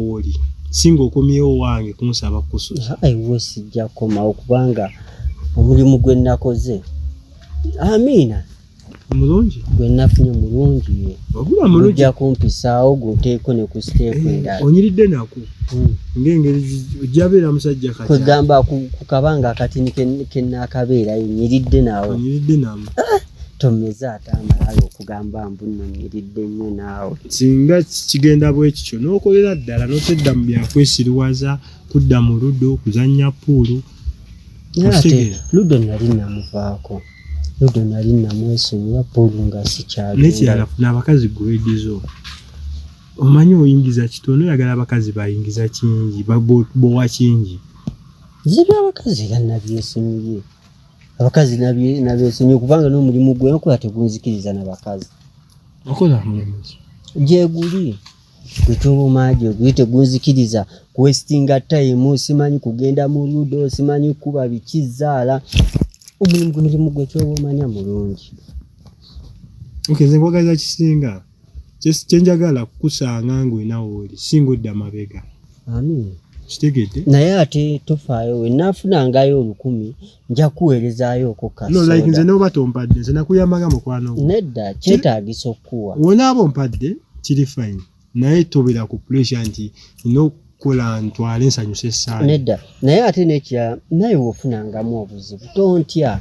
woli singa okomyewo wange kunsaba kusuza ewe sijja komawo kubanga omulimu gwe nakoze amiina mulungi gwe nafunye mulungi ye ogula mulungi ojja kumpisaawo gunteeko ne ku siteepu eh, endala onyiridde nako hmm. ng'engeri ojja beera musajja kati kwegamba ku kabanga akatini ke naakabeerayo nyiridde nawo onyiridde namu eh! tonoze ate amalala okugamba mbu nonyiridde nnyo naawe singa kigenda bwekityo n'okolera ddala notedda mu byakwesiriwaza kudda mu ludo kuzannya puulu ate ludo nali namuvaako ludo nali namwesonyiwa puulu nga sikyalnekirala funa abakazi guwedizo omanyi oyingiza kitono oyagala abakazi bayingiza kingi bowa kingi zibya abakazi era nabyesonyiye abakazi nabesonyiwa kubanga n'omulimu gwe nkola tegunzikiriza nabakazi okola mulimu gyeguli gwetoboma gyeguli tegunzikiriza kuwesitinga tayimu simanyi kugenda mu ludo simanyi kukuba bikizaala omulimu gwe mulimu gwe kyoba omanya mulungi okenze kwagaliza kisinga just kyenjagala kukusanga ng'olina wooli si ng'odda mabega amiina kitegedde naye ate tofaayo wenaafunangayo olukumi nja kuweerezaayo okokkalike nze noba tompadde nze nakuyambaga mukwano nedda kyetaagisa okukuwa wonaaba ompadde kiri fine naye tobera ku pressure nti ina okukola ntwale nsanyusa esaala nedda naye ate nekya naye wofunangamu obuzibu tontya